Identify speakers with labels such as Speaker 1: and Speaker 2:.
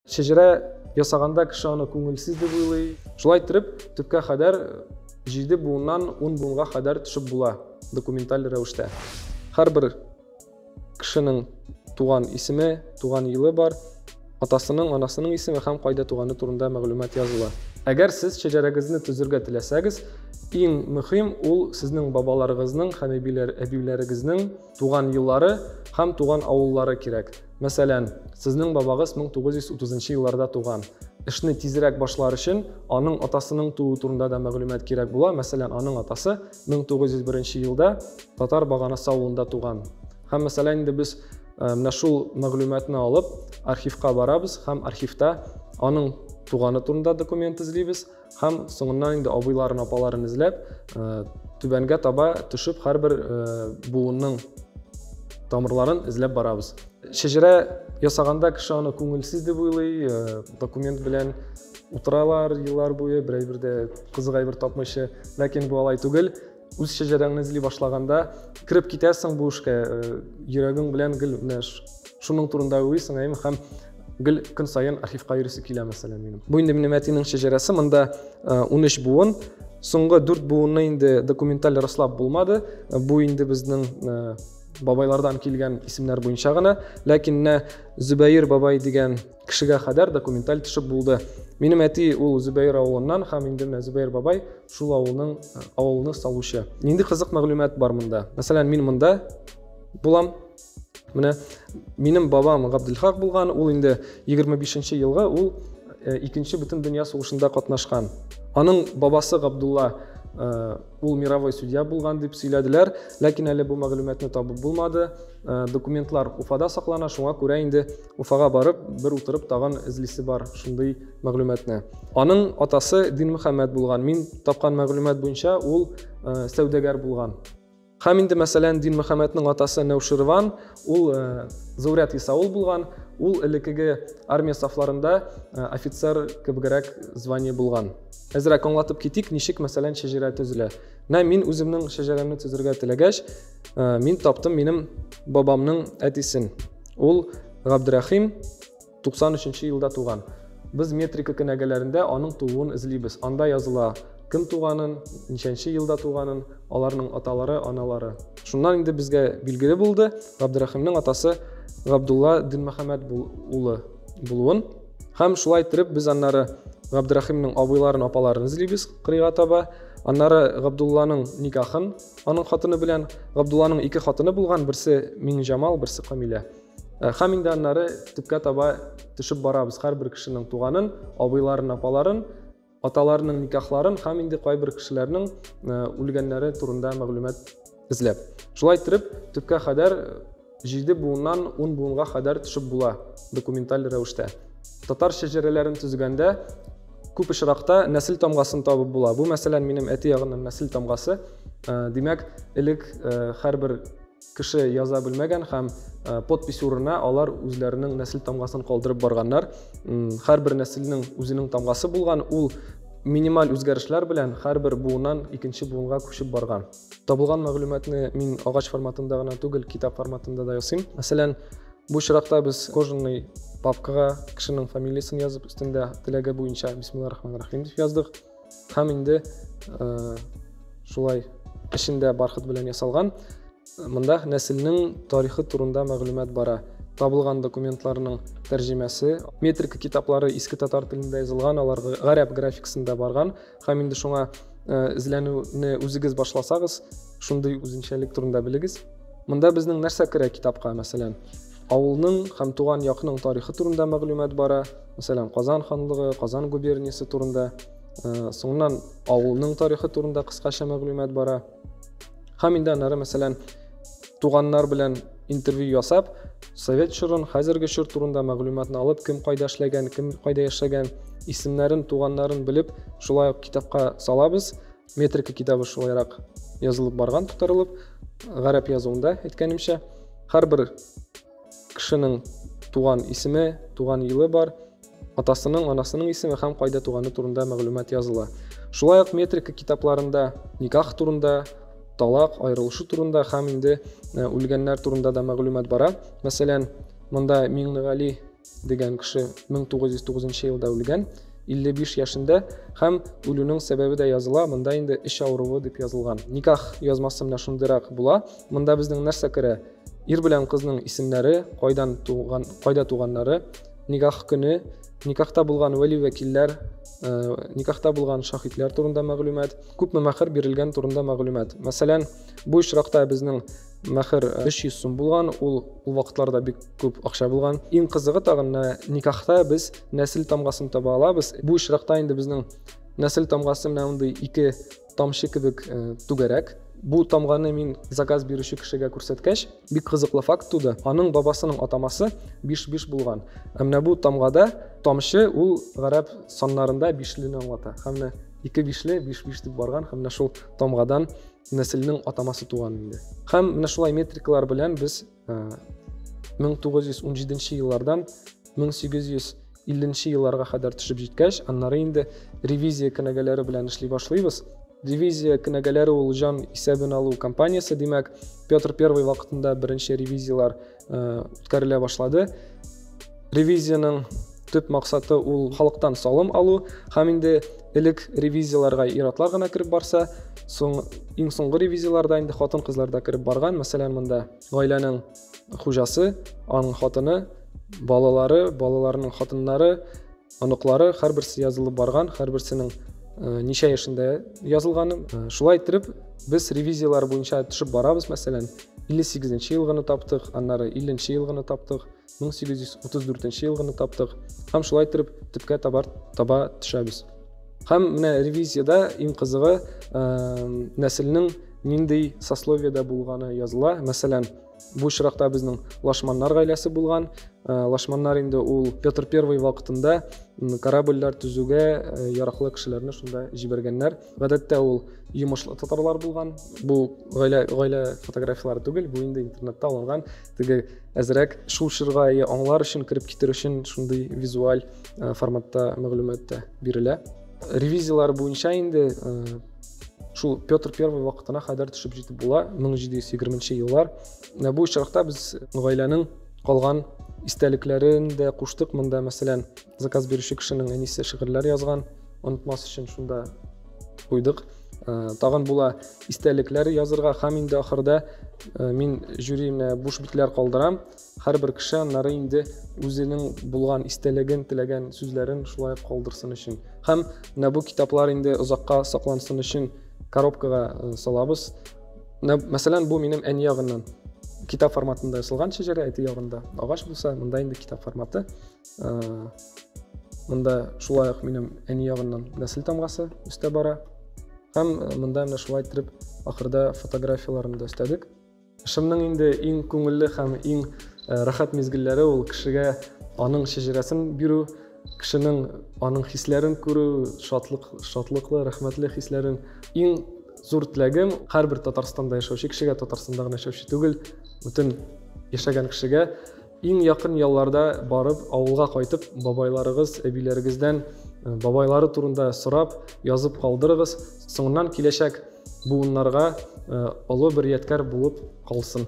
Speaker 1: Шәҗәрә ясаганда кеше аны күңелсез дип уйлый. Шулай иттереп, төпкә кадәр 7 буыннан 10 буынга кадәр төшеп була документаль рәвештә. Һәрбер кешенең туган исеме, туган елы бар, атасының, анасының исеме һәм кайда туганы турында мәгълүмат языла. Әгәр сез шәҗәрәгезне төзергә теләсәгез, иң мөһим ул сезнең бабаларыгызның һәм әбиләрегезнең Туган еллары һәм туган авыллары кирәк. Мәсәлән, сезнең бабагыз 1930 елларда туган. Эшне тизрәк башлар өчен, аның атасының тууы турында да мәгълүмат кирәк була. Мәсәлән, аның атасы 1901 елда Татар Баганасы авылында туган. Һәм, мәсәлән, инде без э, менә шул мәгълүматны алып, архивка барабыз һәм архивта аның туганы турында документ эзлибез. Һәм соңыннан инде абыйларын, апаларын эзләп, түбәнгә таба төшеп, һәрбер буынның тамырларын эзләп барабыз. Шәҗәрә ясаганда кеше аны күңелсез дип уйлый, документ белән утыралар еллар буе, берәй бер дә кызык әйбер тапмыйча. Ләкин бу алай түгел. үз шәҗәрәңне эзли башлаганда кереп китәсең бу эшкә э, йөрәгең белән гел менә шуның турында уйлыйсың әйме һәм гел көн саен архивка йөрисе килә мәсәлән минем бу инде минем әтинең шәҗәрәсе монда э, унөч буын соңгы дүрт буынны инде документаль раслап булмады э, бу инде безнең бабайлардан килгән исемнәр буенча гына ләкин менә зөбәер бабай дигән кешегә кадәр документаль төшеп булды. Минем әти ул Зөбәер авылыннан һәм инде менә Зөбәер бабай шул авылның э, авылны салучы. Нинди кызык мәгълүмат бар монда? Мәсәлән, мин монда булам. Менә минем бабам Габделхак булган, ул инде 25 елга ул э, икенче бөтен дөнья сугышында катнашкан. Аның бабасы Габдулла э, Ул мировой судья булган дип сөйләделәр, ләкин әле бу мәгълүматны табып булмады. Э, документлар Уфада саклана, шуңа күрә инде Уфага барып, бер утырып тагын эзлисе бар шундый мәгълүматны. Аның атасы Дин Мөхәммәд булган. Мин тапкан мәгълүмат буенча ул э, сәүдәгәр булган. Һәм инде мәсәлән Дин Мөхәммәднең атасы Нәүширван, Ул Зурят Исаул булган, ул элеккеге армия сафларында офицер кебегрәк звание булган. Әзрәк аңлатып китик, ничек мәсәлән шәҗәрә төзелә. Менә мин үземнең шәҗәрәмне төзергә теләгәч, мин таптым минем бабамның әтисен. Ул Габдрәхим Туксан өченче елда туган. Без метрика кенәгәләрендә аның тууын эзлибез. Анда языла, кем туганын, ничәнче елда туганын, аларның аталары, аналары. Шуннан инде безгә билгеле булды, Габдерәхимнең атасы Габдулла Динмөхәммәт улы булуын. Һәм шулай иттереп без аннары Габдерәхимнең абыйларын, апаларын эзлибез кырыйга таба. Аннары Габдулланың никахын аның хатыны белән, Габдулланың ике хатыны булган, берсе Миңҗамал, берсе Камилә. Э, һәм инде аннары төпкә таба төшеп барабыз һәрбер кешенең туганын абыйларын апаларын аталарының никахларын һәм инде кайбер кешеләрнең э, үлгәннәре турында мәгълүмат эзләп шулай итеп төпкә кадәр э, җиде буыннан ун буынга кадәр төшеп була документаль рәвештә татар шәҗәрәләрен төзегәндә күп очракта нәсел тамгасын табып була бу мәсәлән минем әти ягының нәсел тамгасы димәк элек һәрбер Кеше яза белмәгән һәм подпись урынына алар үзләренең нәсел тамгасын калдырып барганнар. Һәрбер нәселнең үзенең тамгасы булган, ул минималь үзгәрешләр белән һәрбер буыннан икенче буынга күчеп барган. Табылган мәгълүматны мин агач форматында гына түгел, китап форматында да ясыйм. Мәсәлән, бу очракта без кожаный папкага кешенең фамилиясен язып, өстендә теләге буенча бисмиллаһ рахман рахим дип яздык. һәм инде э, шулай эчендә бархыт белән ясалган мында нәселнең тарихы турында мәгълүмат бара табылган документларның тәрҗемәсе метрика китаплары иске татар телендә язылган алар гарәп графикасында барган һәм инде шуңа э, эзләнүне үзегез башласагыз шундый үзенчәлек турында белегез мында безнең нәрсә керә китапка мәсәлән Авылның һәм туган якның тарихы турында мәгълүмат бара. Мәсәлән, Казан ханлыгы, Казан губерниясе турында. Соңыннан авылның тарихы турында кыскача мәгълүмат бара. Һәм инде аннары, мәсәлән, туганнар белән интервью ясап, совет чорын, хәзерге чор турында мәгълүматны алып, кем кайда эшләгән, кем кайда яшәгән, исемнәрен, туганнарын белеп, шулай ук китапка салабыз. метрика китабы шулайрак язылып барган тутырылып гарәп язуында әйткәнемчә һәрбер кешенең туган исеме туган елы бар атасының анасының исеме һәм кайда туганы турында мәгълүмат языла шулай ук метрика китапларында никах турында талак аерылышу турында һәм инде э, үлгәннәр турында да мәгълүмат бара мәсәлән монда миңнегали дигән кеше 1909 елда үлгән, 55 яшендә һәм үлүнең сәбәбе дә языла, монда инде эч авыруы дип язылган. Никах язмасы менә шундыйрак була. Монда безнең нәрсә керә? Ир белән кызның исемнәре, кайдан туган, кайда туганнары, никах көне, никахта булган вәли вәкилләр, э, никахта булган шаһитләр турында мәгълүмат, күпме мәһәр бирелгән турында мәгълүмат. Мәсәлән, бу очракта безнең мәхер 300 сум булган ул ул вакытларда бик күп акча булган иң кызыгы тагын никахта без нәсел тамгасын таба алабыз бу очракта инде безнең нәсел тамгасы менә мондый ике тамчы кебек э, түгәрәк бу тамганы мин заказ бирүче кешегә күрсәткәч бик кызыклы факт туды аның бабасының атамасы биш биш булган ә менә бу тамгада тамчы ул гарәп саннарында бишлене аңлата һәм менә ике бишле биш биш дип барган һәм менә шул тамгадан нәселнең атамасы туган инде. Һәм менә шулай метрикалар белән без 1917 э, еллардан 1850 елларга кадәр төшеп җиткәч, аннары инде ревизия кенәгәләре белән эшли башлыйбыз. Ревизия кенәгәләре ул җан исәбен алу компаниясе, димәк, Петр I вакытында беренче ревизиялар э, үткәрелә башлады ревизиянең төп максаты ул халыктан салым алу һәм инде элек ревизияләргә ир-атлар гына кереп барса соң иң соңгы ревизияләрдә инде хатын кызлар да кереп барган мәсәлән монда гаиләнең хуҗасы аның хатыны балалары балаларының хатыннары Оныклары һәрберсе язылып барган, һәрберсенең ничә яшендә язылганы. Шулай иттереп, без ревизияләр буенча төшеп барабыз, мәсәлән, 58 елгыны таптык, аннары 50 елгыны таптык, 1834 елгыны таптык һәм шулай итеп төпкә табар таба төшәбез. Һәм менә ревизиядә иң кызыгы нәселнең нинди сословиедә булганы языла. Мәсәлән, Бу очракта безнең лашманнар гаиләсе булган. Э, лашманнар инде ул Петр I вакытында корабльләр төзүгә э, яраклы кешеләрне шунда җибәргәннәр. Гадәттә ул йомышлы татарлар булган. Бу гаилә гаилә фотографияләре түгел, бу инде интернетта алынган. Теге әзрәк шул чорга аңлар өчен кереп китер өчен шундый визуаль э, форматта мәгълүмат та бирелә. Ревизияләр буенча инде шул петр первый вакытына кадәр төшеп җитеп була 1720 еллар ә бу очракта без гаиләнең калган истәлекләрен дә куштык монда мәсәлән заказ бирүче кешенең әнисе шигырьләр язган онытмас өчен шунда куйдык ә, тагын була истәлекләр язырга һәм инде ахырда ә, мин жюрине буш битләр калдырам Һәрбер кеше аннары инде үзенең булган истәлеген, теләгән сүзләрен шулай калдырсын өчен. Һәм менә бу китаплар инде озакка саклансын өчен коробкага э, салабыз. Мәсәлән, бу минем әни ягыннан китап форматында ясалган шәҗәрә әти ягында агач булса монда инде китап форматы э, монда шулай ук минем әни ягыннан нәсел тамгасы өстә бара һәм э, монда менә шулай итеп ахырда фотографияләрне дә өстәдек Кышымның инде иң күңелле һәм иң э, рәхәт мизгелләре ул кешегә аның шәҗәрәсен бирү, кешенең аның хисләрен күрү, шатлык, шатлыклы, рәхмәтле хисләрен. Иң зур теләгем һәрбер Татарстанда яшәүче кешегә, Татарстанда гына яшәүче түгел, бөтен яшәгән кешегә Иң якын ялларда барып, авылга кайтып, бабайларыгыз, әбиләрегездән бабайлары турында сорап, язып калдырыгыз. Соңыннан киләчәк буыннарга олы бер ядкәр булып калсын.